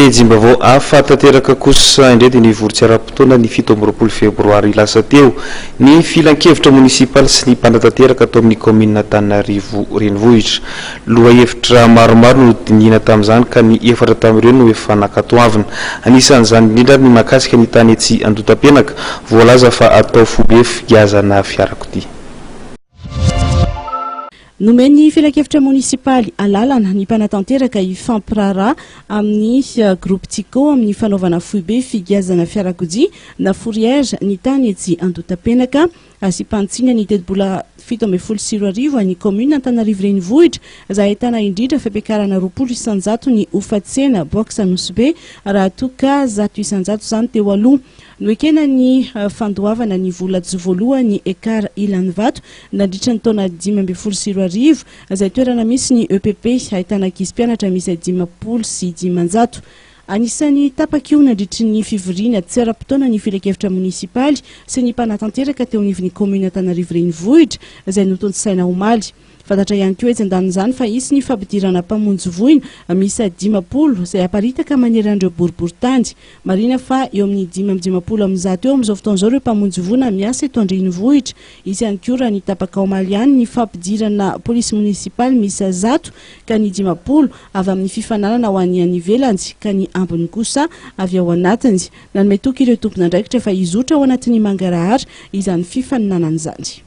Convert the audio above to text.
Pejim-baovao hafa tanteraka kosa indray dia nivory-tsy ara-potoana ny fito amby roapolo febroary lasa teo ny filankevitra monisipaly sy ny mpanatanteraka ato amin'ny kaominina Antananarivo renivohitra. Lohahevitra maromaro no nodinihina tamin'izany ka ny efatra tamin'ireo no efa nankatoavina. Anisan'izany indrindra ary ny mahakasika ny tany etsy Andotapenaka, voalaza fa atao foibe figiazana fiarakodia. Nomen'ny filankevitra monisipaly alalana ny mpanatanteraka hifampiraharaha amin'ny Groupe Tiko amin'ny fanaovana foibe figiazana fiarakodia na fourrière ny tany etsy Andotapenaka, Asipantsina ny tetibola fito ambin'ny folo sy roa arivo an'ny kaominina Antanarivo Renivohitra izay ahitana indrindra fampiakarana roapolo isan-jato ny hofa-tsena box Anosibe raha toa ka zato isan-jato izany teo aloha. Noekena ny fandoavana ny vola tsy voalohan'ny Ekar Ilanivato nandritra ny taona dimy ambin'ny folo sy roa arivo, izay toerana misy ny EPP ahitana ankizy mpianatra miisa dimampolo sy dimanjato. Anisan'ny tapak'io nandritry ny fivoriana tsy ara-potoana ny filankevitra monisipaly sy ny mpanatanteraka teo anivon'ny kaominina Antananarivo Renivohitra, izay notontosaina omaly. Fantatra ihany koa etsy an-danin'izany fa hisy ny fampidirana mpamonjy voina miisa dimampolo izay haparitaka manery an'ireo boriborintany. Marihina fa eo amin'ny dimy amby dimampolo amin'ny zato eo amin'izao fotoana izao ireo mpamonjy voina miasa eto an-drenivohitra. Hisy ihany koa raha ny tapaka omaly any ny fampidirana polisy monisipaly miisa zato ka ny dimampolo avy amin'ny fifananana ho an'ny any ivelany ka ny ambiny kosa avy ao anatiny. Nanome toky ireo tompon'andraikitra fa hizotra ao anatin'ny mangarahara izany fifaninanana izany.